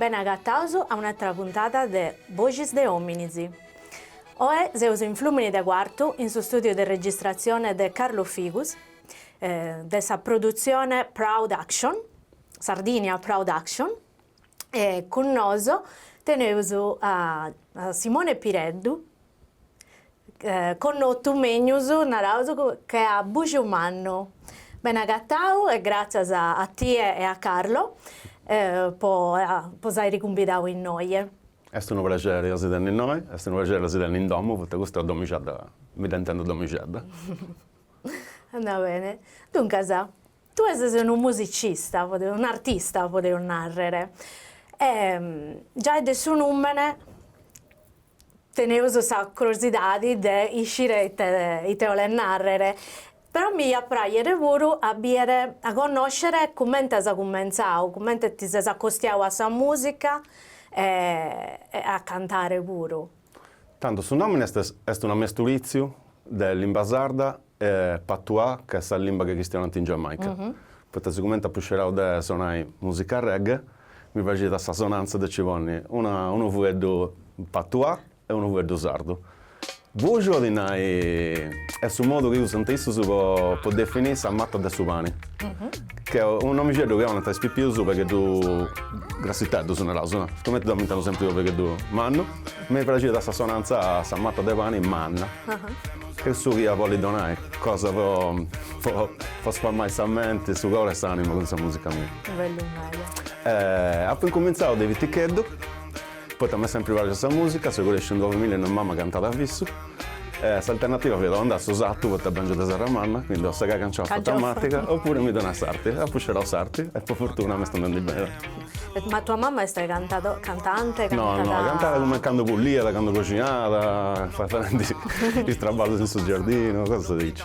Bene agataus a un'atra puntada de Boxis de Òminis. Oe seus in Flùmini de Cuartu in su stùdiu de registratzione de Carlo Figus, de sa produtzione Proud Action, Sardinia Proud Action. E cun noso teneus a Simone Pireddu, connotu megnus, naraus, che a Bujumannu. Ben'agatau e gratzias a tie e a Carlo po s'airi cumbidau innoie. Est unu prexeri a si tenni innoi, est unu prexeri a si tenni in domu, poita custa domixedda mi dd'intendu domixedda. Andat bene. Duncas Tue ses unu musicista, un'artista podeus nàrrere, e giai de su nùmene teneus sa crosidadi de iscire ite ite 'olet nàrrere, però mi iat pràxere puru a bìere, a connòscere cumenti as cumentzau, cumenti ti ses acostiau a sa mùsica e a cantare puru. Tandu su nòmini est est una mesturìtziu de limba sarda e patuà ca est sa limba chi cristionant in Giamaica. Poita sigumenti apu scerau de sonai musica reggae mi praxiat sa sonantza de ci ponni una unu fueddu patuà e unu fueddu sardu. Buju 'olit nai est su modu chi usant issus po po definì sa mata de su pani. Ch'est unu nomixeddu chi 'onant a is pipius pegheddu grassiteddus naraus, no? Cumenti deu m'intendu sempri unu pegheddu mannu. Mi praxiat sa sonantza sa mata de pani manna. Cussu chi iat bolli donai cosa po po sfamai sa menti, su coru e s'animu cun sa musica mia. Bellu meda. Apu incumintzau de piticheddu Poita m'est sempri praxia sa musica, seu cresciu ind una familia innui mama cantat a fissu e s'alternativa fiat o andà a su satu poita bèngiu de Serramanna, quindi o segà canciofa e tamàtiga opuru mi donà a s'arti e apu scerau s'arti e po fortuna m'est andendi beni. Ma tua mama est cantadora, cantante, cantat? No no, cantat cumenti candu puliat, candu coxinat, faendi is traballus in su giardinu, cosas diaici.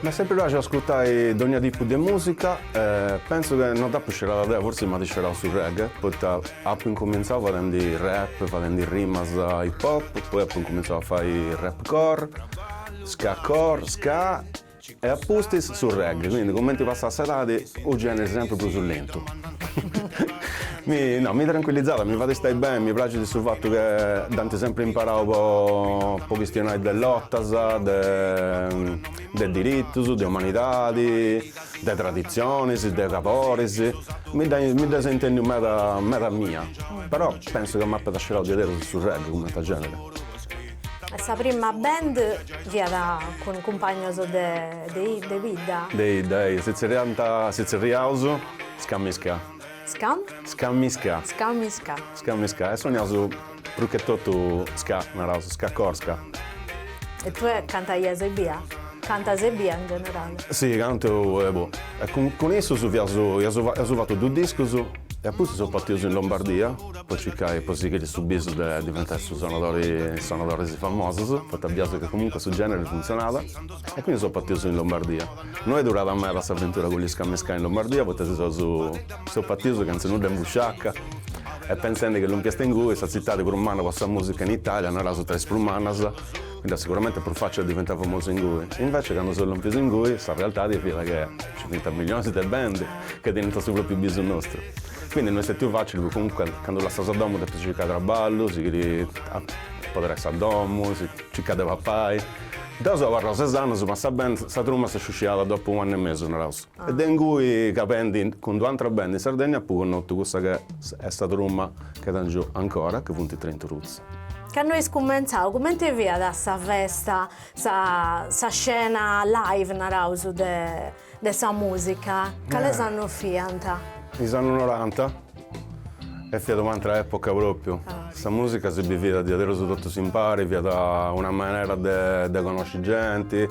M'est sempri praxiu ascurtai dogna tipu de musica, pensu che no dd'apu scerada deo, forsis m'at scerau su reggae, poita apu incumintzau fadendi rap, fadendi rimas hip hop, poi apu incumintzau a fai rap core, ska core, ska e a pustis su reggae, quindi cumenti passat s'edadi u generi sempri prus lentu Mi, no, mi tranquillizat, mi fait istai beni, mi praxit su fatu che dd'ant sempri imperau po po chistionai de lotas, de de diritus, de umanidadi, de traditzionis, de caboris, mi dda mi dda seu intendiu meda meda a mia, però pensu ca m'apat scerau diaderus in su reggae cumenti a genere. Sa prima band fiat cun cumpagnos de de de bidda? De 'idda, eih, si tzerriant si tzerriaus Skami Ska Skam? Skami Ska. Skami Ska. Skami Ska. E soniaus prus che totu ska, naraus, ska core, ska. E tue cantaias ebbia? Cantas ebbia in generale? Si, cantu e boh. E cun cun issus fiaus, iaus iaus fatu dus discus e a pustis seus partius in Lombardia po circai, po sighiri su bisu de diventai su sonadori, is sonadoris famosus, poita biaus chi comunque su generi funtzionàt. E quindi seus partius in Lombardia. No est durada meda s'aventura cun is Skami Ska in Lombardia poita seus seus partius chentz'e nudda in busciaca e pensendi che lompius ingui sa tzitadi prus manna po sa musica in Italia, naraus tra is prus mannas, fiat siguramente prus facili a diventai famosu ingui. Invece candu seus lompius ingui sa realtadi fiat che ci fiant millionis de band che teniant su propriu bisu nostru. Quindi no est stetiu facili poita comunque candu lassas sa domu depis circai traballu, sighiri a apoderai sa domu, circai de papai Deo seu abarrau ses annus, ma sa band, sa truma s'est sciusciada dopu unu annu e mesu, naraus, e de ingui cantendi cun d'una atra band in Sardegna apu connotu cussa ca est sa truma ca tengiu ancora, chi funt Train to Roots. Candu eis cumentzau, cumenti fiat sa festa, sa sa scena live, naraus, de De sa mùsica, cales annos fiant? Is annos noranta, e fiat una atra època pròpiu, sa mùsica si biviat a diaderus totus impari, fiat una manera de connosci genti,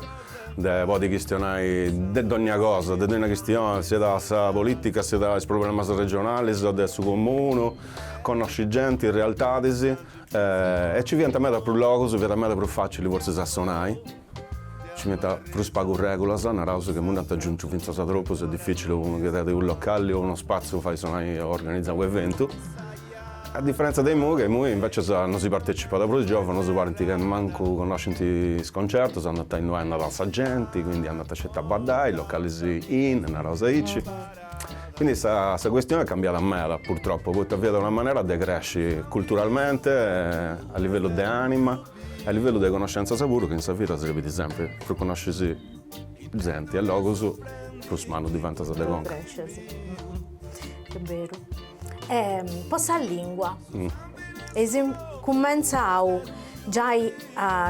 de podi chistionai de dònnia cosa, de dònnia chistioni, siat sa polìtica, siat is problemas regionalis o de su comunu, connosci genti, realtadis, e nci fiant meda prus logus, fiat meda prus fàcili forsis a sonai Ci fiant prus pagu règulas, naraus chi nd'ant agiuntu fintzas troppus, est dificili po unu chi tenit unu localli o unu spatziu fai sonai o organizai unu eventu. A differenza de imui ca imui invecias no si partecipat prus, is giovanus parint ca mancu connoscint is concertus, andant a innui andat sa genti, quindi andant sceti a baddai, locallis in, naraus aici. Quindi sa cuestioni est cambiada meda purtroppu, poita fiat una manera de cresci culturalmente, a livellu de anima. A livellu de conoscentzas puru chi in sa vida serbit sempri, prus conoscis zenti e logus prus mannu diventas de conca. Est beru. E po sa lingua, eis cumentzau giai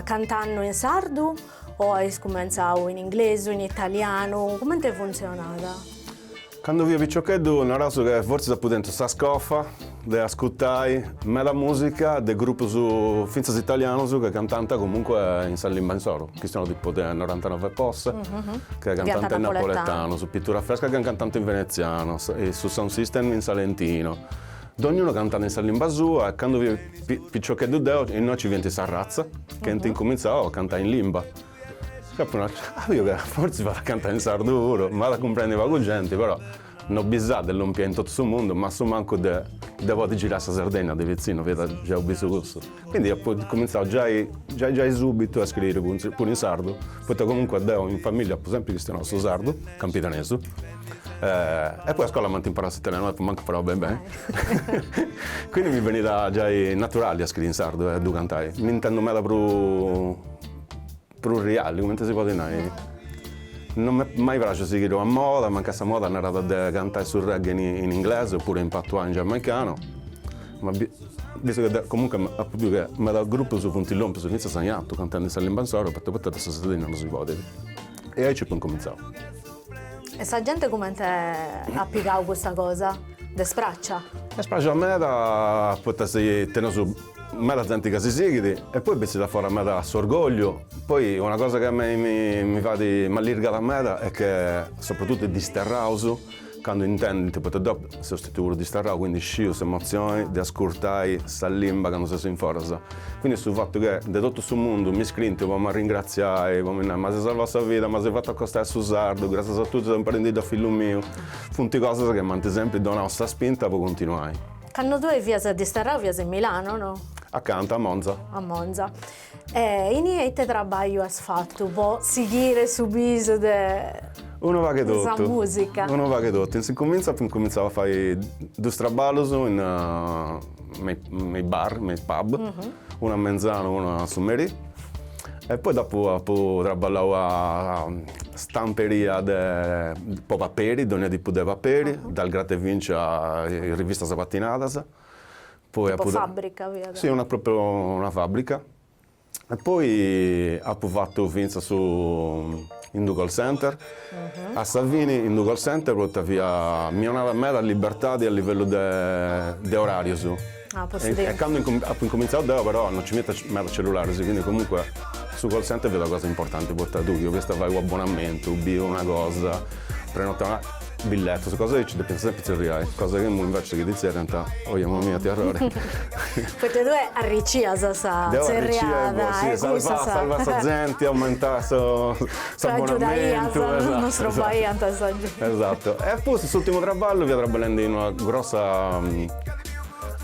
cantandu in sardu O ais cumentzau in inglesu, in italianu, comente funtzionat? Cando fia piciocheddu naraus che fortzis apu tentu sa scofa de ascutai meda musica de grupus fintzas italianus che cantant comunque in sa limba insoru, chistiono tipu de Norantanove Posse che cantant in napoletanu, is Pitura Freska che cantant in venezianu, Sud Sound System in salentino, Dògnunu cantat in sa limba sua e candu fia piciocheddu deu innoi nci fiant Sa Razza chi ant incumintzau a cantai in limba. Dd'apu nau, capiu ca forzis fait a cantai in sardu puru, m'at a cumprendi pagu genti, però no bisai de lompi in totu su mundu ma a su mancu de podi girai sa Sardegna de pitzinnu, fiat giai bisu cussu. Quindi apo cumintzau giai giai giai subitu a scriri puru in sardu, poita comunque deu in familia apu sempri chistionau su sardu, campidanesu, e poi a scola m'ant imparau s'italianu no dd'apu mancu imparau beni beni, quindi mi benit giai naturali a scriri in sardu e a ddu cantai, mi intendu meda prus Pru' reali, comente si podit nai. Non m'est mai pràxiu a sighiri una moda, mancai sa moda narat de cantai su reggae in inglesu opuru in patois in giamaicanu, ma bistu chi deu comunque apu biu chi meda grupus funt lompius fintzas a in artu cantende in sa limba insoru poita poita de sa Sardigna non si podit. E aici apu incumintzau. E sa genti comente at pigau custa cosa dd'est pràxia? Est pràxia meda poita ca teneus Meda zente ca si sighit e poi bessit afora meda s'orgogliu, poi una cosa chi a mei mi fait, m'allirgat meda est che soprattutto is disterraus candu intendint, poita deu seu stetiu puru disterrau, quindi sciu s'emozioni de ascurtai sa limba candu ses in foras, quindi su fatu che de totu su mundu mi scriint po m'arringraziai, po mi nai m'as salvau sa vida, m'as fatu acostai a su sardu, grassias a tui seu imparendiddu a fillu miu, funt cosas chi m'ant sempri donau sa spinta po continuai. Cando tue fias disterrau fias in Milano, no? Acanta, a Monza. A Monza. E inie ite trabagliu as fattu po sighire su bisu de Unu pagu 'e totu. De sa musica. Unu pagu 'e totu. In s'incuminzu apu incumintzau a fai duus traballus in me i bar, me i pub, unu a mengianu e unu a su merì. E poi dopu apu traballau a stamperia de po paperi, dogna tipu de paperi, dal Gratta e Vinci a is rivistas patinadas. Poi apu. Tipu fabbrica fiat? Si, una propriu una fabbrica. E poi apu fatu finzas su in d'u call center, a sa fini in d'u call center poita fiat mi 'onàt meda libertadi a livellu de orarius, e candu incumin apu incumintzau deu però no nci fiant meda cellularis, quindi comunque su call center fiat una cosa importanti poita tui chi 'oliast fai u' abbonamentu, boh una cosa, prenotai una Billetos, cosa aici depiant sempri tzerriai, cosa chi imui invece chi ti tzerriant, ohi mamma mia it'arrori. Poita tue arricias sa tzerriada e cussas. Deu arricia e boh, salvà sa genti, aumentà s'abonamentu. Agiudaias, non strobaiant sa genti. Esatu. E a pustis s'urtimu traballu fia traballendi in una grossa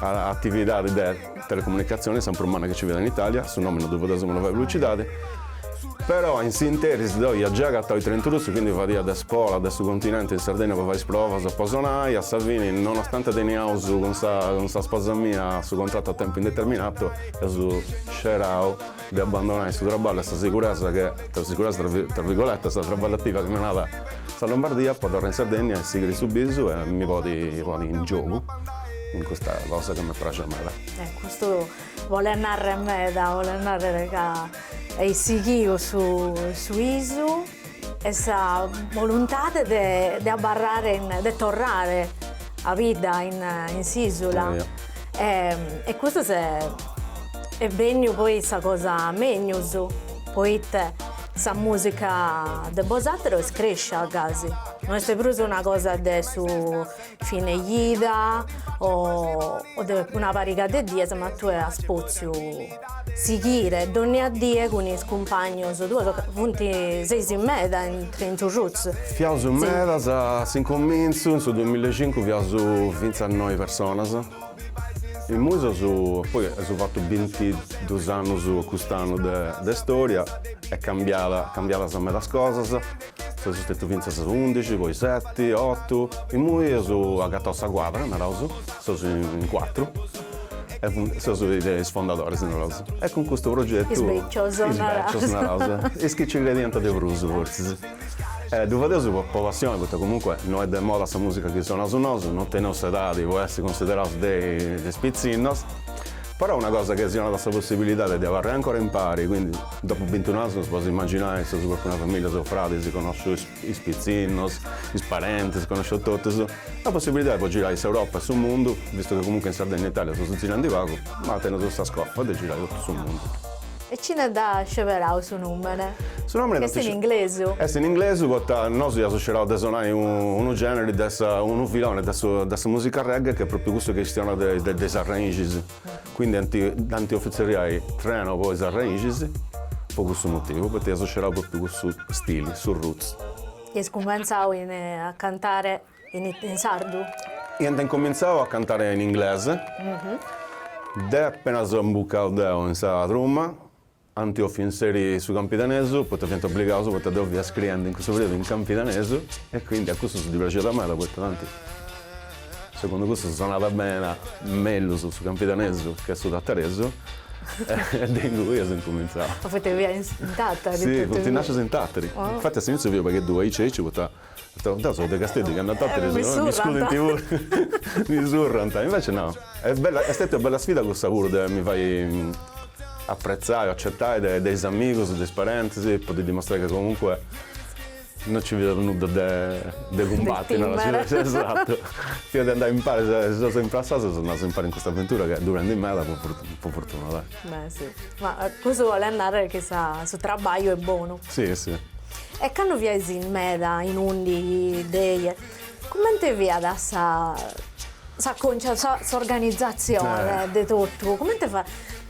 atividadi de Telecomunicazione, sa prus manna chi nci fiat in Italia, su nomi non ddu fadeus po no fai publicidade, però in s'interis deu ia giai agatau is Train to Roots, quindi fadia de spola de su continente in Sardegna po fai is provas po sonai, a sa fini nonostante teniaus cun sa cun sa sposa mia su contratu a tempu indeterminato eus scerau de abbandonai su traballu e sa siguresa che, sa siguresa tra tra virgoletas, traballativa chi mi donàt sa Lombardia po torrai in Sardegna e sighiri su bisu e mi podi poni in giogu in custa cosa chi mi praxiat meda. E custu bolet narrer meda, bolet narrer ca eis sighiu su su bisu. e sa boluntade de abarrare, de torrare a bidda in s'isula e custu est benniu poi sa cosa megnus poita sa musica de bosateros est crescia gasi, no est prus una cosa de su fine jida o o de una pariga de dies ma tue as potziu sighire dònnia die cun is cumpagnos tuos ca funt, seis meda in Train to Roots. Fiaus medas, a s'incomintzu, in su duamilla e cincu fiaus fintzas noi personas, imui seus, poi eus fatu bintidus annus cust'annu de de storia, est cambiada cambiadas medas cosas Seus stetiu fintzas undixi, poi seti, otu, imui eus agatau sa cuadra, naraus, seus in cuatru e seus is fondadoris, naraus, e cun custu progetu, is becius, is becius, naraus, is chi nci crediant de prus, fortzis, e ddu fadeus po passioni, poita comunque no est de moda sa musica chi sonaus nosu, no teneus s'edadi po essi consideraus de is pitzinnos. Però una cosa chi si donat sa possibilidade de abarrai ancora impari, quindi dopu bintunu annos podis imaginai, seus propriu una familia, seus fradis, connosciu is pitzinnos, is parentis, connosciu totus, sa possibilidade po girai s'Europa e su mundu, vistu chi comunque in Sardegna e Italia seus zirandi pagu, ma teneus sa scofa de girai totu su mundu. E cine dd'at sceberau su nùmene. Su nùmene chi est in inglesu. Est in inglesu poita nosu iaus scerau de sonai unu generi de sa, unu filoni de su, de sa musica reggae chi est propriu cussu chi chistionat de de is arrèxinis. Quindi ant, dd'ant offiu tzerriai Treno po is arrèxinis, po cussu motivu, poita iaus scerau propriu cussu stili, su roots. Eis cumenzau in, a cantare In sardu? Iant incomintzau a cantare in inglese, deo apenas imbucau deu in sa truma, ant bòfiu inseri su campidanesu, poita fiant obligaus, poita deu fia scriendi in cussu periudu in campidanesu, e quindi a cussus ddi praxiat meda, poita tanti, segundu cussus sonat bene mellus su campidanesu che su tataresu, e de ingui eus incomintzau. Ma poita fiat in Tatari? Sì, funt nascius in Tatari, infati a s'iniziu fia u' pagheddu aici aici poita Intantu sos de Casteddu cando a Tatari mi scudent puru, mi surrant, invece no, est bella, est stètia una bella sfida cussa puru de mi fai appretzai o accetai de de is amigus, de is parentis, po ddi dimostrai ca comunque no nci fiat nudda de de cumbatti, narat su, esatto, fiat de andai impari, si seus imprassaus seus andaus impari in custa avventura ch'est durendi meda po fortuna, dai. Beh si, ma cussu bolet narrer chi sa su trabagliu est bonu. Si si. E cando fiais in meda in undi, dexi comente fiat sa sa cosa sa s'organizatzione de totu, comente fa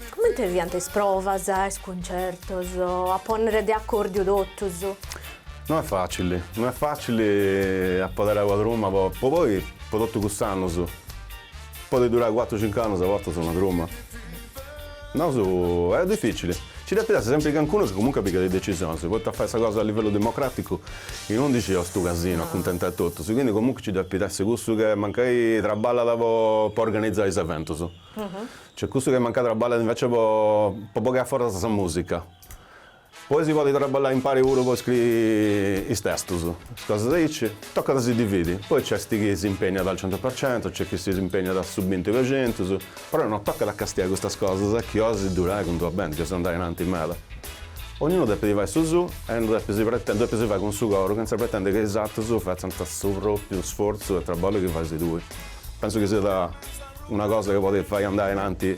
comente fiant is provas, is cuncertos, a ponner de accordiu totus? No est facili, no est facili a poder aer una truma po po poi po totu cust'annus. Podet durai cuatru cincu annus a bortas una truma? No, est dificili, nci depit essi sempri cancunu chi comunque pigat is decisionis, poita a fai sa cosa a livellu democraticu in undixi est unu casinu a cuntentai totus, quindi comunque nci depit essi cussu che mancai traballat po po organizai is eventus, cioè cussu che mancai traballat invece po po bogai a foras sa musica. Poi si podit traballai impari puru po scri is testus, is cosas aici, tocat a si dividi, poi nc'est chi s'impeniat al centu per centu, nc'est chi s'impeniat a su binti per centus, però no tocat a castiai custas cosas chi 'ois durai cun d'una band chi 'ois andai ainanti meda. Ognunu depit fai su suu e no depit si pretendiri, depit si fai cun su coru chentza pretendiri ca is atrus fatzant su propriu sforzu e traballu chi fais tui. Pensu chi siat una cosa chi podit fai andai in anti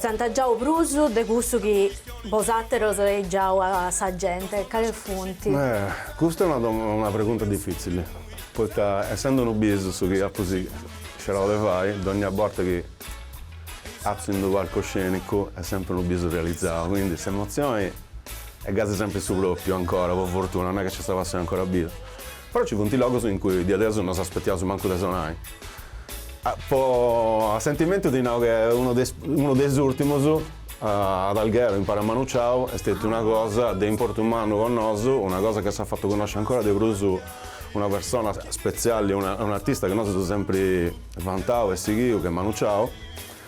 S'ant giau prus de cussu chi bosàteros eis giau a sa gente, cale funt? Custa est una una pregunta difìtzile, poita essende unu bisu su chi apu scerau de fai, dònnia borta chi atziu in d'unu palcu scènicu est sèmpiri unu bisu realizau, quindi s'emotzioni est gasi sèmpiri su pròpiu ancora, po fortuna, non est chi nci est passioni ancora bia. Però ci funt logos in cui diaderus no s'aspettiaus mancu de sonai. Po a sentimentu ti nau che unu de is unu de is ùrtimus, ad Alghero, impari a Manu Ciau, est stetiu una cosa de importu mannu po nosu, una cosa chi s'at fatu connosci ancora de prus una persona spetziali, un'artista chi nosu eus sempri vantau e sighiu, che est Manu Ciau.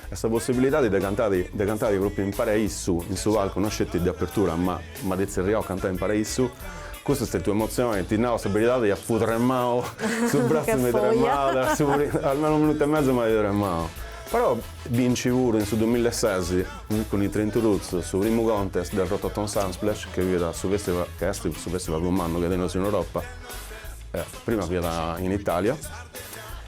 E sa possibilidadi de cantai de cantai propriu impari a issu, in su palcu, no sceti de apertura, ma m'at tzerriau a cantai impari a issu, cussa est stètia un'emozioni, ti nau sa beridadi, appu tremau, su brazzu mi tremau, de su pri almenu unu minutu e mesu m'at tremau. Però binci puru in su duamilla e sesi cun i Train To Roots su primu contest del Rototom Sunsplash chi fiat su festival chi esti su festival prus mannu chi teneus in Europa, prima fiat in Italia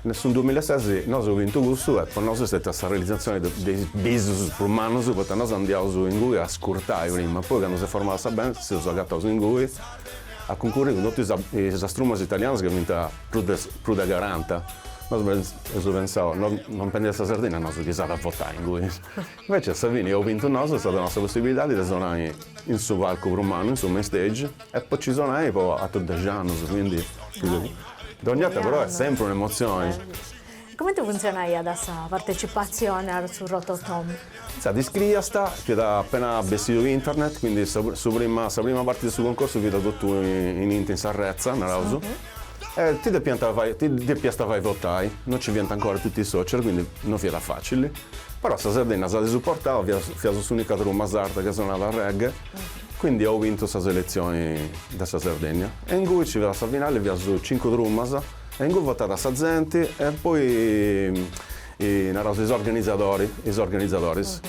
In su dumilases nosu eus bintu cussu e po nosu est stètia sa realizatzione de is bisus prus mannus poita nosu andiaus ingui a scurtai prima poi candu s'est formada sa band seus agataus ingui a cuncurri cun totus is is trumas italianas chi fiant prus de prus de caranta nosu eus pensau non pendia sa Sardinna nosu chi s'at a votai ingui Invece a sa fini eus bintu nosu, est stata nostra possibilidadi de sonai in su palcu prus mannu, in su main stage, e po ci sonai po atrus dexi annus, quindi dogni 'orta però est sempri un'emozioni. Comenti funtzionaiat sa partecipatzioni a su Rototom? Sa t'iscriiast, fiat appena bessidu internet, quindi su prima sa prima parti de su concorsu fiat totu in internet, in s'arretza, naraus, E ti depiant fai, ti depiast fai votai, non ci fiant ancora tutti i social, quindi non fiat facili, però sa Sardinna s'at suportau, fiat fiaus s'unica truma sarda chi sonàt reggae, quindi eus bintu sa selezioni de sa Sardinnia e ingui ci fiat sa finali, fiaus cincu trumas e ingui votat sa zenti e poi E naraus is organizadori, is organizadoris.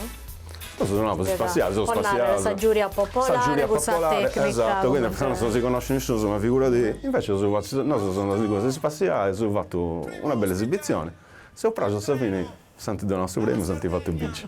Nosu si namus is spassiaus, seus spassiaus. Po nai sa giuria popolare. Sa giuria popolare, esatto, quindi eus nau no, non si conoscit nisciunus, ma figuradi, invece eus fatu, nosu seus andaus ingui, si seus spassiaus, eus fatu una bella esibizioni, seus praxus a sa fini s'ant donau su premiu, s'ant fatu binci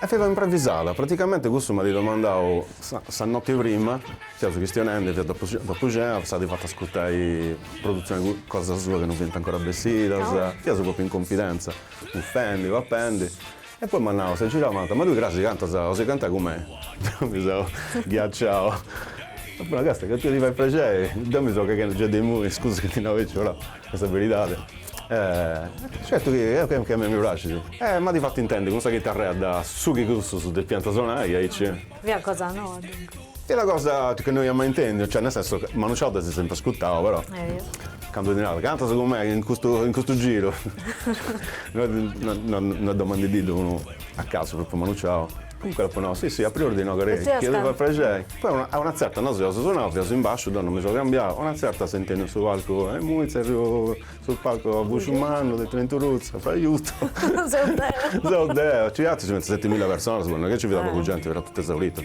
E fiat un'improvisada, praticamente cussu m'at domandau sa noti prima, fiaus chistionendi, fiat dopu cena, s'at fatu ascurtai produtzioni cosa sua chi non fiant ancora bessidas, fiaus propriu in confidenza, bufendi, papendi, e poi m'at nau, s'est girau e m'at nau, ma tui cras cantas, 'osi cantai cun mei? Deu mi seu ghiaciau, apu nau, càstia, chi a tui ti fait prexeri, deu mi seu cheghendi giai de imui, scusa chi ti nau aici, però Est sa beridadi. Eh, certu chi a mei mi praxit. Eh, m'at fatu intendi cun sa chitarra de su chi cussus depiant sonai aici. Fiat cosa noa, duncas. Fiat una cosa chi no ia mai intendiu, cioè, nel senso, Manu Chao dd'as sempri ascurtau, però. Eia. Candu ti narat, cantas cun mei in custu, in custu giru. No, no, no, no est domandendididdu unu a casu, propriu Manu Chao. Comunque dd'apu nau, si si, a priori ti nau ca eja, chi eus a fai prexei. Poi a una tzerta nosu eus sonau, fiaus in basciu, deu no mi seu cambiau, a una tzerta intendu in su palcu, imui tzerriu in su palcu a Bujumannu, de Train To Roots, aiutu, seu deu, seu deu, nci fiant si pentzu setimilla personas, no est chi nci fiat pagu genti, fiat totu esaurita,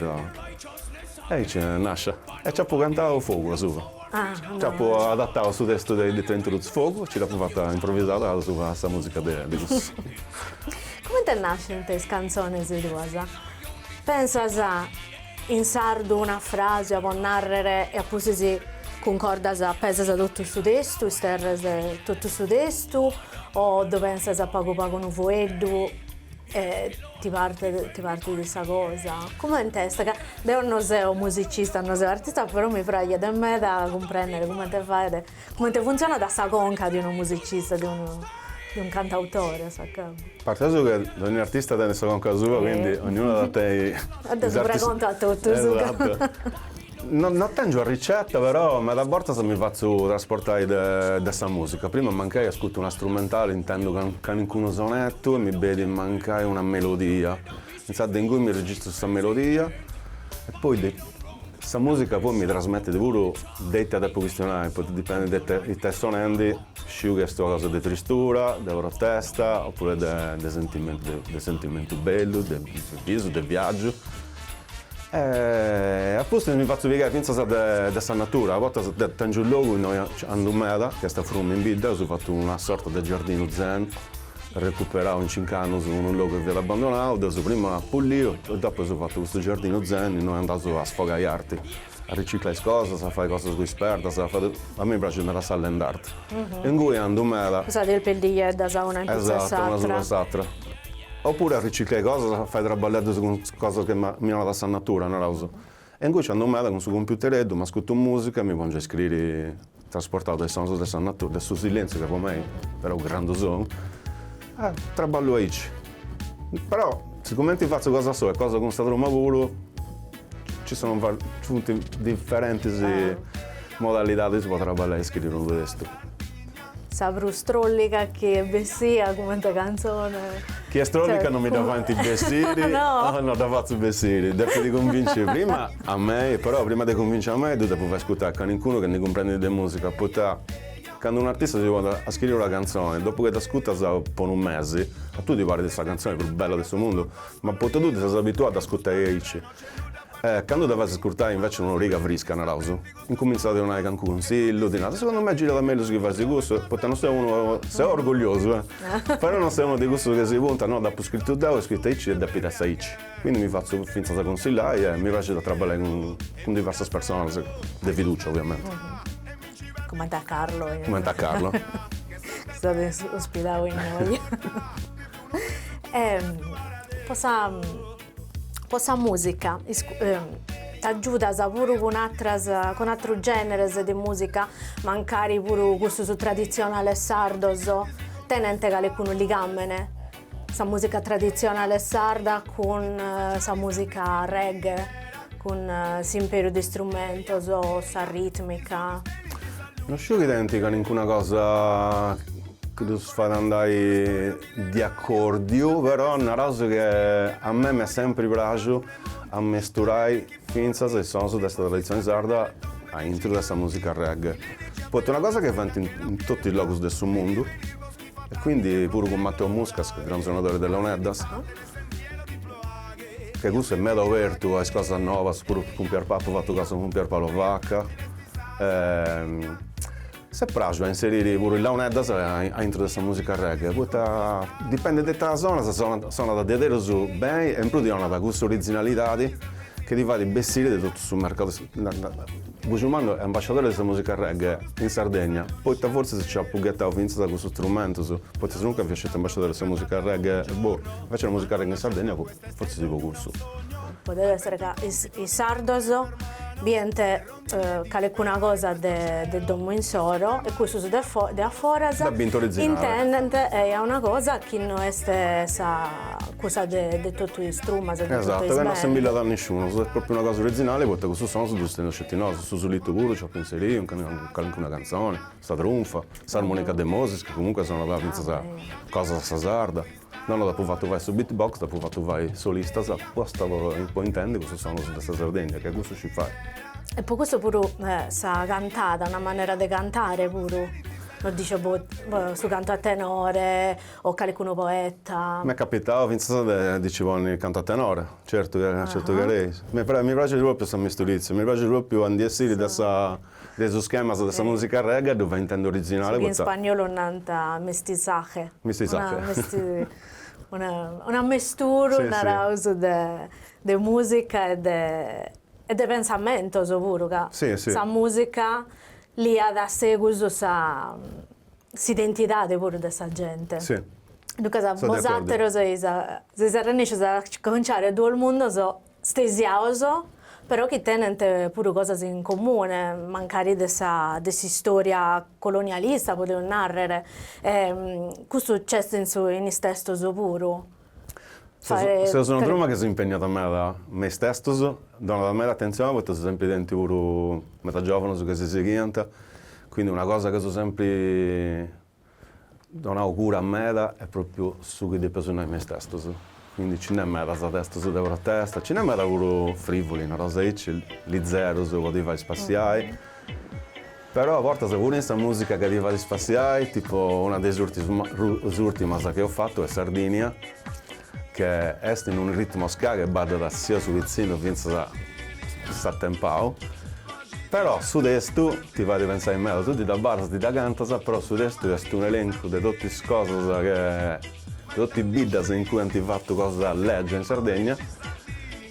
aici nascit, e nci apu cantau fogu asuba. Dd'apo adatau su testu de Dr. Drer Roots Fogu, nci dd'apu fata improvisada a su a sa musica de de cussus. Cumenti nascint is cantzonis tuas? Pensas in sardu una frase po narrer e a pustis si cuncordas pesas totu su testu, isterres totu su testu o ddu pensas pagu pagu unu fueddu? E ti partet ti partit sa cosa? Comente est ca deo no seo musicista, no seo artista, però mi praxet meda a cumprender comente faet, comente funtzionat sa conca de unu musicista, de unu de unu cantautore a s'acabbu. Partendo che dogni artista tenet sa conca sua, quindi ognunu at a tenni. Ddu pregonto a totus. Esatto No no tèngio una ricetta però meda bortas mi fatzu trasportai de de sa mùsica. Prima mancai ascutu una strumentale intendu ca calincunu sonetu e mi benit mancai una melodia. Intzandus ingui mi registru sa melodia e poi de sa mùsica poi mi trasmetit puru de ite depu chistionai, poita dipendit de ite ite est sonendi, sciu chi est una cosa de tristura, de protesta oppuru de de sentimentu de sentimentu bellu, de bisu, de viaggiu E a pustis mi fatzu pigai fintzas de sa natura, a bortas tengiu logu innoi andu meda, chi est a Frumini in bidda, aus fatu una sorta de giardinu zen, recuperau in cincu annus unu logu chi fiat abandonau, dd'eus prima pulliu e dopu eus fatu custu giardinu zen innoi andaus a sfogai arti A riciclai is cosas, a fai cosas cun is perdas, a fai totu. A mei mi praxit meda sa land art. Ingui andu meda. Sa de is perdigheddas a una in pitzus a s'atra. Esatu, una subra a s'atra. Opuru a riciclai cosas, a fai traballeddus cun is cosas chi mi donat sa natura, naraus. E ingui nci andu meda cun su cumpiutereddu, m'ascutu musica e mi pongiu a scriri Trasportau de is sonus de sa natura, de su silentziu ca po mei est unu grandu sonu, e traballu aici. Però sigumenti fatzu cosa solu e cosa cun sa truma puru, ci sono va, ci funt diferentis modalidadis po traballai e scriri unu testu. Sa prus trolliga chi est bessia cumenti cantzoni? Chi est trolliga non mi dda faint bessiri, no, no dda fatzu bessiri, depit cunvinciri prima A mei, però prima de cunvinci a mei ddu depu fai ascutà a calincunu chi ndi cumprendit de musica, poita candu unu artista si ponit a scriri una cantzoni, dopu chi dd'ascutas po unu mesi, a tui ti parit sa cantzoni prus bella de su mundu, ma poita tui ti ses abituau a dd'ascutai aici. E candu dda fais ascurtai inveci a un'origa frisca, naraus, incumintzat a ti donai calincunu consillu, ti narat, segundu mei girat mellus chi fais cussu, poita non seu unu, seu orgulliosu, eh, però non seu unu de cussus chi si puntat, no, dd'apu scritu deu, est scritu aici e depit essi aici. Quindi mi fatzu fintzas cunsillai e mi praxit a traballai cun diversas personas de fiducia oviamenti. Cumenti a Carlo. Cumenti a Carlo. Chi s'at ospitau innoi. Po sa musica t'agiudas puru cun atras cun atrus generes de musica mancari puru cussus tradizionales sardos tenent calicunu ligamene? Sa musica tradizionale sarda cun sa musica reggae, cun s'imperiu de strumentos, sa ritmica. No sciu chi tenit calincuna cosa chi ddus fait andai de accordiu, però naraus che a mei m'est sempri praxiu a mesturai fintzas is sonus de sa traditzioni sarda aintru de sa musica reggae, poita est una cosa chi faint in totu is logus de su mundu E quindi puru cun Matteo Muscas, gran sonadore de launeddas, che cussu est meda obertu a is cosas novas, puru cun Pier... apu fatu cosas cun Pier Paolo Vacca, s'est praxu a inseriri puru is launeddas aintru de sa musica reggae, poita dipendet ita sonas, sonat sonat diaderus beni e in prus ti 'onat cuss'originalidadi chi ti fait bessiri de totu su mercadu Bujumannu est ambasciadore de sa mùsica reggae in Sardegna, poita fortzis nci apu ghetau fintzas cussus strumentus, poita sinunca fia sceti ambasciadore de sa mùsica reggae e boh, inveci la mùsica reggae in Sardegna fortzis po cussu. Podet èssere ca is sardos bient calicuna cosa de domu insoro e cussus de aforas intendent eja una cosa chi no est sa stessa cosa de totu is trumas e de totu is Esatu, ca no si nd'abillat nisciunus, est propriu una cosa originali poita custus sonus ddus teneus sceti nosu, su sulitu puru nci dd'apu inseriu, in calincuna cantzoni, sa trunfa, s'armonica de Moses, chi comunque sonat fintzas cosas a sa sarda, deu no dd'apu fatu fai su beatbox, dd'apu fatu fai solistas aposta po po intendi cussus sonus de sa Sardegna, ca cussu sciu fai. E po cussu puru sa cantada, una manera de cantare puru, non so, su cantu a tenore O calicunu poeta? M'est capitau fintzas de ddi nci ponni cantu tenore, certu chi certu chi eja. Mi mi praxit propriu sa misturitzia, mi praxit propriu a ndi essiri de sa de is schemas de sa musica reggae e ddu fai intendi originali poita. Su chi in spagnolu nant mestizaje. Mestizaje. Un ammesturu naraus de de musica e de e de pensamentus puru ca sa musica liat a segus sa s'identidade puru de sa gente. Si. Duncas so de accordu. bosateros seis seis arrennescios a acontziare duos mundos stesiados però chi tenent puru cosas in comune, mancari de sa de s'istoria colonialista podeus narrer e custu nc'est in su in is testos puru. Seus una truma chi s'impègnat meda me is testus, donat meda atentzioni poita eus sempri tentu puru meda giòvanus chi si sighiant, quindi una cosa chi eus sempri donau cura meda est pròpriu su chi depeus nai me is testus, quindi nci nd'est medas testus de protesta, nci nd'est meda puru frivuli, nareus aici, lizerus po ti fai spassiai Però a bortas puru in sa mùsica ca ti fait spassiai, tipo una de is ùrtimas chi eus fatu est Sardinia, che est in unu ritmo ska che baddat sia su pitzinu fintzas s'atempau, però su testu ti fait pentzai meda, tui dda baddas, dda cantas, però su testu est unu elencu de totu is cosas che, de totu is biddas in cui ant fatu cosas legia in Sardegna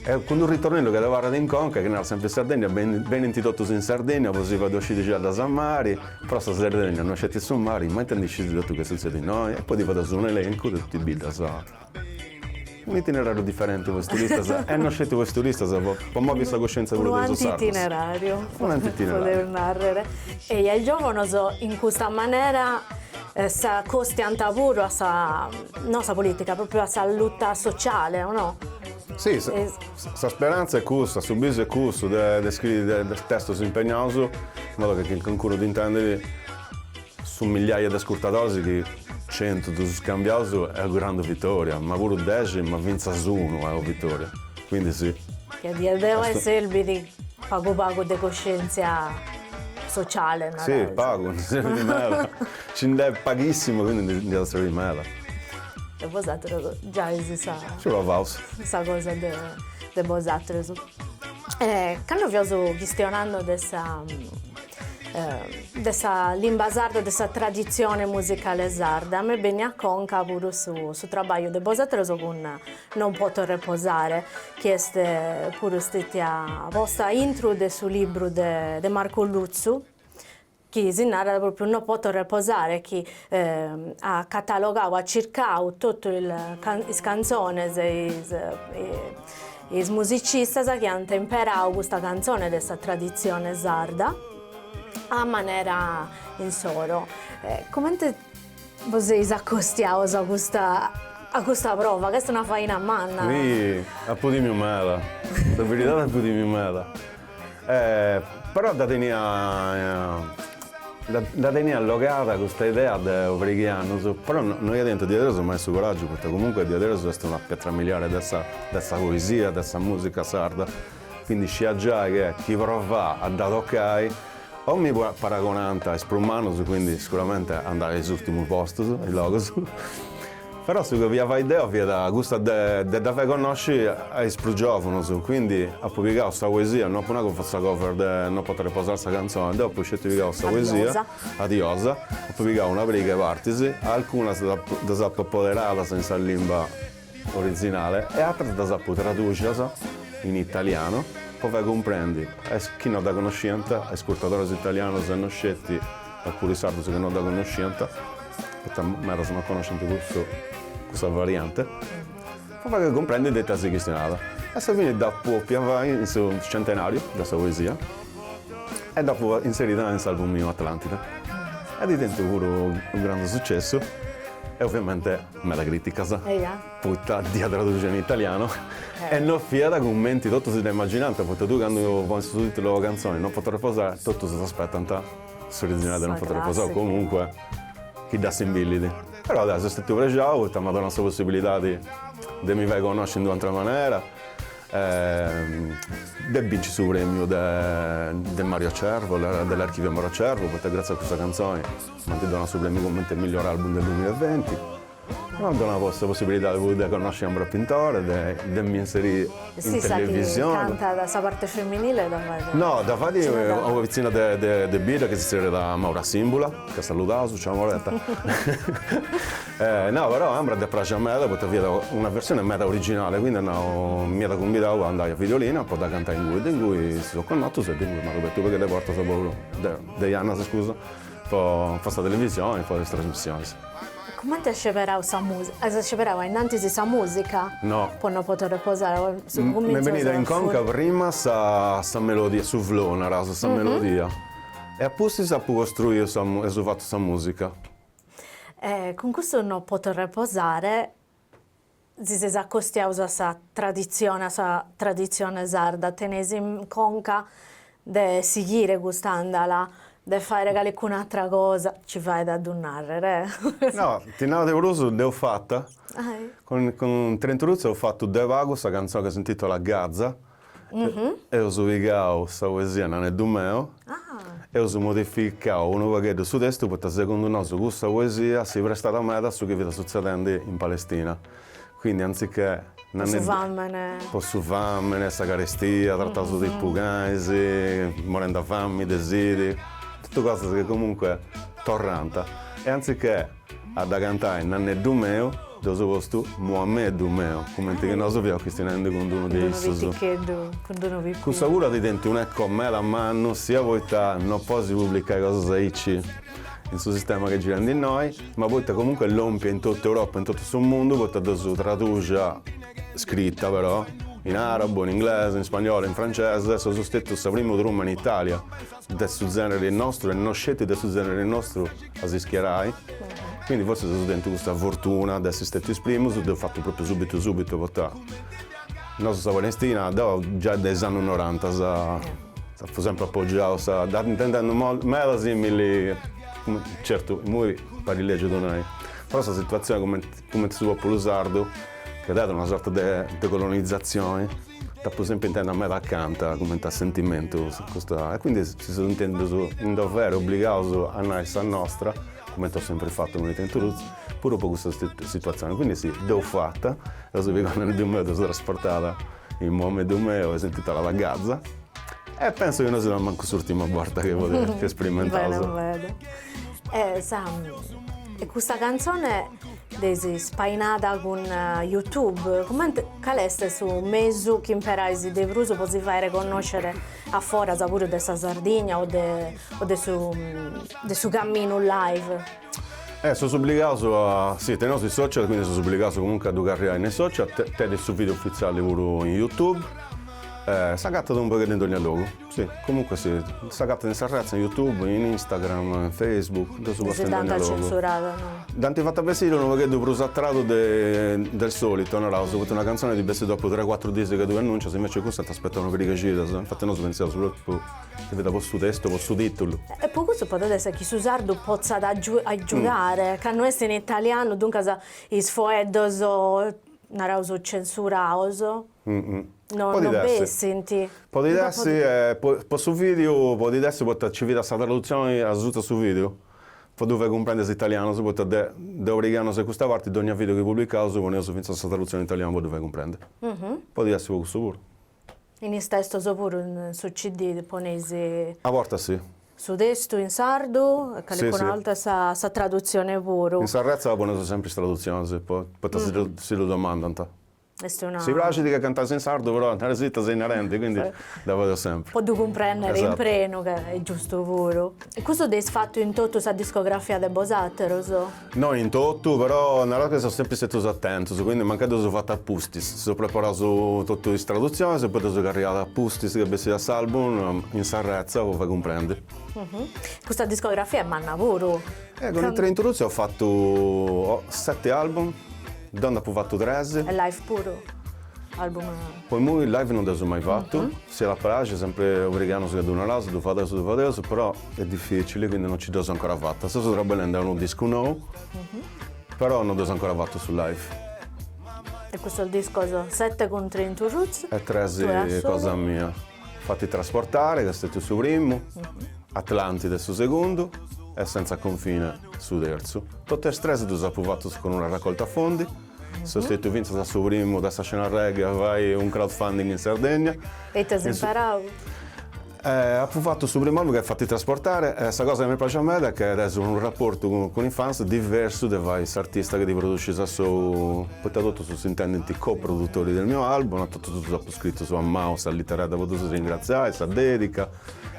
E cun d'unu ritornellu chi abarrat in conca, chi narat semper in Sardegna, benint totus in Sardegna, po si fader sciri giallas a mari, però sa Sardegna no est sceti su mari, ma ite ndi scit totu che sutzedit innoi? E poi ti fadeus unu elencu de totu is biddas unu itinerariu diferenti po is turistas e no sceti po is turistas, po movi sa coscienza puru de is sardus. Unu anti-itinerariu. Unu anti-itinerariu. Podeus narrer. E is giovanos in custa manera s'acostiant puru a sa, no a sa politica, propriu a sa luta sociale o no? Si, sa speranza est cussa, su bisu est cussu de de scriri de de testos impegnaus in modo chi chi calincunu ddi intendit, su migliaia de ascurtadoris chi centu ddus eus cambiaus est u' grandu vitoria, ma puru dexi, ma fintzas unu est u' vitoria, quindi si. Ca diaderus serbit pagu pagu de coscientzia sociale, naraus. Si, pagu ndi serbit meda, nci nd'est paghissimu, quindi ndi at a serbiri meda. e bosateros giais in sa. Nci provaus. In sa cosa de de bosateros. E cando fiaus chistionando de sa de sa limba sarda, de sa traditzione musicale sarda, m'est benniu a conca puru su su trabagliu de bosateros cun Non poto reposare, chi est puru stetia posta intro de su libru de de Marco Lutzu, chi si narat pròpriu Non poto reposare chi at catalogau at circau totu is cantzones e is e is musicistas chi ant imperau custa cantzone de sa traditzione sarda a manera insoro e comente bos seis acostiaus a custa a custa prova ca est una faina manna. Si, apo timiu meda, sa beridadi apo timiu meda. Però dda tenia dda tenia allogada custa idea de u' pariga 'e annus, però no ia tentu diaderus mai su coraggiu, poita comunque diaderus est una pietra miliare de sa de sa poesia, de sa musica sarda Quindi scia giai che chi provà a dda tocai, o mi paragonànt a is prus mannus, quindi sicuramente andà a is ùrtimus postus, is logus, però su chi bolia fai deu fiat custa de de dda fai connosci a is prus giòvunus, quindi apu pigau sa poesia, no apu nau chi fut sa cover de No potho reposare sa canzone, deu apu sceti pigau sa poesia, A Diosa, apu pigau una pariga 'e partis, alcunas ddas apu apoderadas in sa limba Originale e atras ddas apu traduxias in italianu po fai cumprendi a is chi no dda connosciant, a is ascurtadores italianos e no sceti a puru is sardus chi no dda connosciant, poita medas no connoscint cussu, cussa variante, po fai cumprendi de ita si chistionat. A sa fini dd'apu bòfia fai in su centenariu de sa poesia e dd'apu inserida in s'album miu Atlantida e at tentu puru u' grandu sucessu e ovviamente Meda crìticas, poita dd'ia traduxia in italianu e no fiat cumenti totus dda imaginànt, poita tui candu ponis su tìtulu de una cantzoni Non potho reposare, totus s'aspetant s'originali de Non potho reposare o comunque chi dd'assimbillit. Però deu seu stètiu prexau poita m'at donau sa possibilidadi de mi fai connosci in d'un'atra manera e de binci su premiu de Mario Cervo, dell'archivio Mario Cervo, poita gratzias a cussa cantzoni M'ant donau su prèmiu comente miglior album del dumila e venti. M'ant donau sa possibilidade puru de connosci Ambra Pintore, de mi inserì in televisione. Est issa chi cantat sa parte feminile dda fait. No, dda fait una pitzinna de bidda chi si zerriat Maura Simbula, ca saludaus, ciao Mauretta. No, però a Ambra dd'est praxia meda poita fiat una versione meda originale, quindi at nau, m'iat cumbidau a andai a Videolina po dda cantai ingui. De ingui si seus connotus e de ingui m'at abertu u' paghedd'e portas po de jannas scusa Po sa televisioni e po is trasmissionis. Cumenti as sceberau sa musica? As sceberau ainnantis sa musica? No. Po No potho reposare o su cuminzu de sa. M'est benida in conca prima sa sa melodia, su flow naraus, sa melodia. E a pustis apu costruiu sa e apu fatu sa musica. E cun custu No potho reposare. Si seis acostiaus a sa traditzione, a sa traditzione sarda, teneis in conca de sighire custa andala, de fàere calicuna atra cosa, ci faet a ddu nàrrere. No, ti nau de prus, dd'eus fata, cun Train To Roots eus fatu de pagu sa cantzone ca s'intitolat Gaza. Eus pigau sa poesia Naneddu meu, eus modificau unu pagheddu su testu poita segundu nosu cussa poesia si prestat meda a su chi fiat sutzedendi in Palestina, quindi anzichè po su famini, sa carestia, trataus tipu canis, morend'a fami de sidi, totu cosas chi comunque torrant e anzichè A dda cantai Nanneddu meu, dd'eus postu Muammeddu meu, cumenti chi nosu fiaus chistinendi cun d-unu de issus. Cun d-unu piticheddu, cun d-unu pipiu. Cussa puru at tentu un'eco meda mannu, sia poita no podis publicai cosas aici, in su sistema chi girendi innoi, ma poita comunque est lòmpia in totu Europa, in totu su mundu, poita dd'eus traduxia, scrita però, in arabu, in inglesu, in spagnolu, in francese, seus stetus sa primu truma in Italia. de su zènere nostru e no sceti de su zènere nostru a si schiarai, quindi forsis aus tentu custa fortuna de essi stètius is primus, dd'eus fatu propriu subitu subitu poita nosu sa Palestina, deu giai de is annus norantas apu sempri apogiau sa, dda intendendu meda simili, certu imui parit lègiu a ddu nai, però sa situatzioni cumenti su populu sardu, chi at tentu una sorta de colonizatzioni Dd'apu sempri intèndia meda acanta, cumenti a sentimentu, custa, e quindi si seus intendus in dovere, obligaus a nai sa nostra, cumenti eus sempri fattu unu ita in Toulouse, puru po custa situatzioni, quindi si, dd'eus fatta, eus pigau Nanneddu meu, dd'eus trasportada in Muammeddu meu e s'intìtulat Gaza, e pensu chi no siat mancu s'urtima borta chi sperimentaus. Bene meda. E sa, e custa cantzone Dd'eis spainada cun YouTube, cumenti, cale est su mesu chi imperais de prus po si fàere connoscere a foras puru de sa Sardigna o de o de su de su caminu live? Eh seus obligaus a, si teneus is social quindi seus obligaus comunque a ddu carriai in is social, tenit su video ufitziali puru in YouTube, s'agatat unu pogheddu in dogna logu. Si, comunque si, s'agatat in sa retza, in Youtube, in Instagram, in Facebook, dd'eus posta in dònnia logu. Dd'ant fata bessiri unu pogheddu prus a tradu de de sòlitu, naraus, poita una cantzoni ti bessit dopu tres cuatru diis chi ddu annuncias, invecias cussa ant aspetau una pariga, infati nosu pentzeus propriu chi fiat po su testu, po su tìtulu. E po cussu podet esser chi su sardu potzat agiudare, ca no est in italianu, duncas is foeddos, naraus, censuraus. non bessint. Podit essi, po su vìdiu, podit essi poita nci fiat sa tradutzioni asuta a su vìdiu, po ddu fai cumprendi a is italianus, poita de de una pariga 'e annus a custa parti dónnia vìdiu chi publicaus poneus fintzas sa tradutzioni in italianu po ddu fai cumprendi. Podit essi po cussu puru. In is testus puru su CD, poneis. A bortas si. Su testu in sardu e calicuna 'orta sa sa tradutzioni puru. In s'arretza poneus sempri is tradutzionis, po poita si ddu domandant. est una. Si praxit ca cantas in sardu però nara·sì ita ses narende quindi dda fadeus sempri. Po ddu cumprendere in prenu ca est giustu puru. E custu dd'eis fatu in totu sa discografia de bosaterus? No in totu però naraus ca seus sempri stetus atentus quindi mancai dd'eus fatu a pustis. S'eus preparau totu is tradutzionis e poi ddas eus carriadas a pustis chi bessiat s'album in s'arretza po fai cumprendi. Custa discografia est manna puru. E cun is Train To Roots eus fattu sette album, deu nd' appu fattu tres. E live puru? Album. Po immoi live non dd'eus mai fattu, s'iat a praxi sempre obrighiamus ca ddu naraus, ddu fadeus, ddu fadeus, però est dificili quindi non ci dd'eus ancora fatta. Seus traballendi a unu discu nou, però non dd'eus ancora fattu su live. E custus discos, sette cun is Train To Roots. E tres cosa mia. Fatti trasportare ca est stetiu su primu, Atlantide su segundu e Senza confine su terzu. Totu is tres ddus apu fatus cun una racolta fondi. Seu stetiu fintzas su primu de sa scena reggae a fai un crowdfunding in Sardegna. E ita as imparau? Apu fatu su primu album de Fatti trasportare e sa cosa chi mi praxit meda est chi tenis unu raportu cun is fans diversu de fai s'artista chi ti produsis a sou, poita totus s'intendint co-produtori del mio album, totus ddus apu scritus a manu, sa lìtera de po ddus ringratziai, sa dèdica,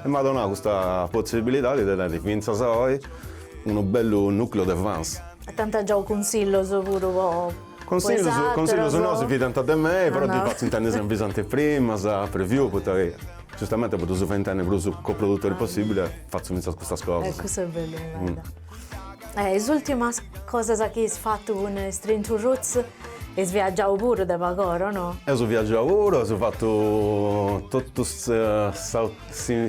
e m'at donau custa potzibilidadi de teniri fintzas a oi unu bellu nùcleu de fans. E t'ant giau cunsillus puru po is aterus? Cunsillus, cunsillus no, si fidant de mei, però ddis fatzu intendi si nfisant is primas, preview, poita chi giustamenti po ddus fai intendi prus coprodutori possibili fatzu fintzas custas cosas. E cussa est bellu meda is ultimas cosas chi eis fatu cun is Train To Roots, eis viaggiau puru de pagora no? Eus viaggiau puru, eus fatu totu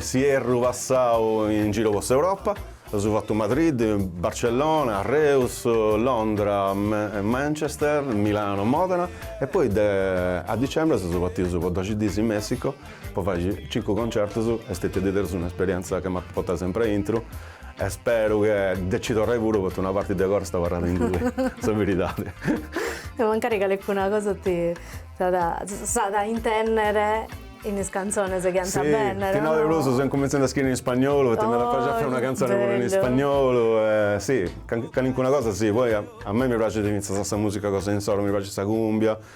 s'ierru passau in giru po s'Europa, eus fatu Madrid, Barcellona, Reus, Londra, Manchester, Milano, Modena e poi de a dicembre seus partius po doxi dìs in Messico po fai cincu concertus, est stètia diaderus un'esperienza chi m'apu a portai sempri aintru E speru che de ci torrai puru poita una parti de coro est abarrada ingui, sa beridadi. E mancari calicuna cosa ti s'at a intennere in is cantzones chi ant a bennere. Si, ti nau de prus seu incumentzendi a scriri in spagnolu poita m'iat a praxiri a fai una cantzone puru in spagnolu e si, calincuna cosa si, poi a mei mi praxit fintzas sa musica cosa insoro, mi praxit sa cumbia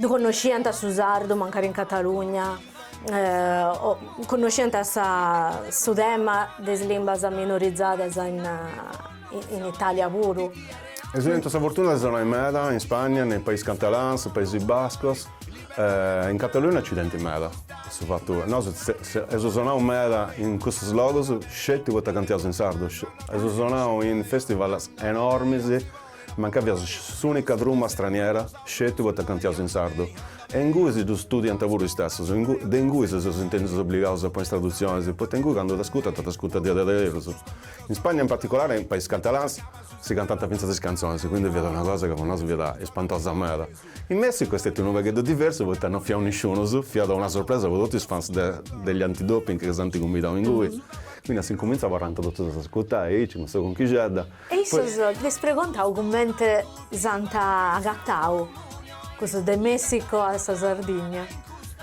Ddu connosciant su sardu mancari in Catalugna o connosciant su tema de is limbas minorizadas in Italia puru. Eus tentu sa fortuna de sonai meda in Spagna, in Pais Catalans, Paisi Bascos, in Catalugna nci tenint meda a su fatu, nosu eus sonau meda in cussus logus sceti poita cantiaus in sardu, eus sonau in festivals enormis, Mancai fiaus s'ùnica truma straniera, sceti poita cantiaus in sardu. E ingui si ddus studiant puru is testus, ingui, de ingui si seus intèndius obligaus a ponni is tradutzionis, poita ingui candu t'ascurtant t'ascurtant diaderus. In Spagna in particolare in pais catalans si cantant fintzas is cantzonis, quindi fiat una cosa ca po nosu fiat ispantosa meda. In Messicu est stetiu unu pagheddu diversu poita no fiaus nisciunus, fiat una sorpresa po totu is fans de de gli Antidoping ca s'ant cumbidau ingui, quindi a s'incumintzu abarrant totus a s'ascurtai aici cun sa conchixedda. E issos ti preguntao comente s'ant agatau cussos de Messico a Sardigna.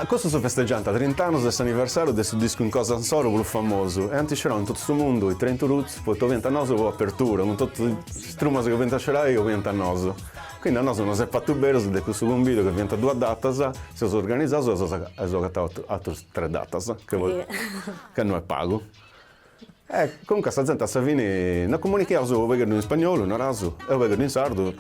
Custos festegiant trint'annos de s'aniversàriu de su discu cosa insoro prus famosu e ant iscerau in totu su mundu i Train to Roots poita obiant a nosu po apertura cun totu is trumas chi obiant a scerai obiant a nosu quindi a nosu nos ant fatu meris de cussu cumbidu ca fiant duas datas seus organizaus e eus agatau atrus tres datas ca no est pagu. E comunque sa zente a sa fini nosu comunicheaus unu pegheddhu in spagnolu, naraus, e unu pegheddhu in sardu,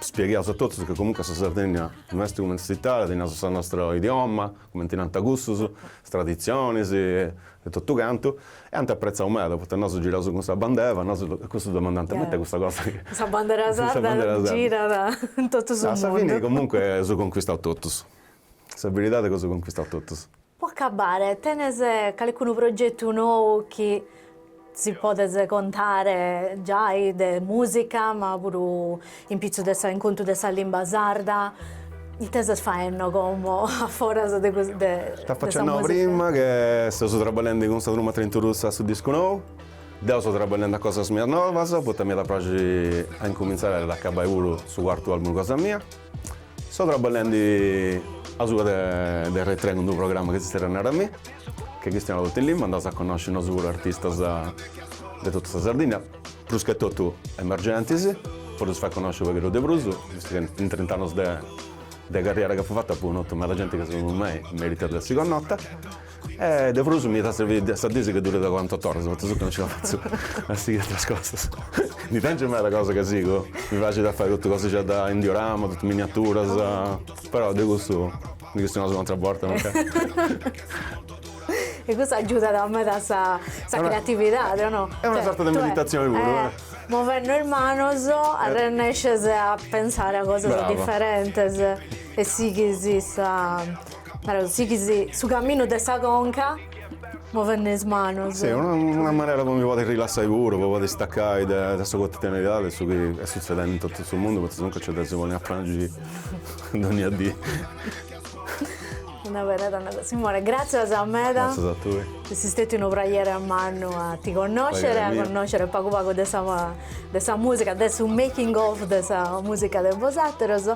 spiegheaus a totus chi comunque sa Sardegna no est cumenti s'Italia, teniaus sa nostra idioma, cumenti nant cussus, is traditzionis e totu cantu, e ant apretzau meda, poita nosu giraus cun sa bandera, nosu, e cussus domandant, ma ita est custa cosa chi, sa bandera sarda girat in totu su mundu. A sa fini comunque eus conquistau totus, sa beridadi chi eus conquistau totus. Po acabare, tenes calicunu progetu nou chi nos podes contare giai de musica, ma puru in pitzus de sa in contu de sa limba sarda? Ite ses faende como a foras de custu de sa musica? T'apo accennadu prima che seus traballendi cun sa Truma Train to Roots a su discu nou. Deu seu traballendi a cosas mias novas, poita m'iat a praxiri a incumintzai e a dd'acabai puru su cuartu album cosa mia. So traballendi asuba de RAI Tre cun d'unu programma chi si tzèrriat A mi, che chistionat totu in limba, andaus a connosci nosu puru artistas de totu sa Sardinna, prus che totu emergentis, po ddus fai connosci unu pagheddu de prus, vistu che in trint'annus de carriera chi apu fatu apu connotu meda genti chi segundu mei meritat de essi connota E de prus mi iat a servi de sa dì chi durit cuarantotto oras, poita su chi no nci la fatzu a sighi ateras cosas. Ndi tengiu meda cosa ca sigu, mi praxit a fai totu cosixeddas in diorama, totu miniaturas, però de custu ndi chistionaus un'atera borta mancai. E custu agiudat meda a sa creatividadi, o no? Est una sorta de meditatzioni puru, eh! Movendi is manus arrennescis a pensai a cosas diferentis e sighis sa Però sighis su caminu de sa conca movende is manus. Si, una manera po mi podi rilassai puru, po podi staccai de sa quotidianidadi de su chi est sutzedenti in totu su mundu, poita sinuncas nc'est de si ponni a prangi dogna dì. Una beridade nata. Simone, gràtzias meda. Gràtzias a tui. Est stetiu unu praghere mannu a ti connoscere, a connoscere pagu pagu de sa de sa musica, de su making of de sa musica de bosateros.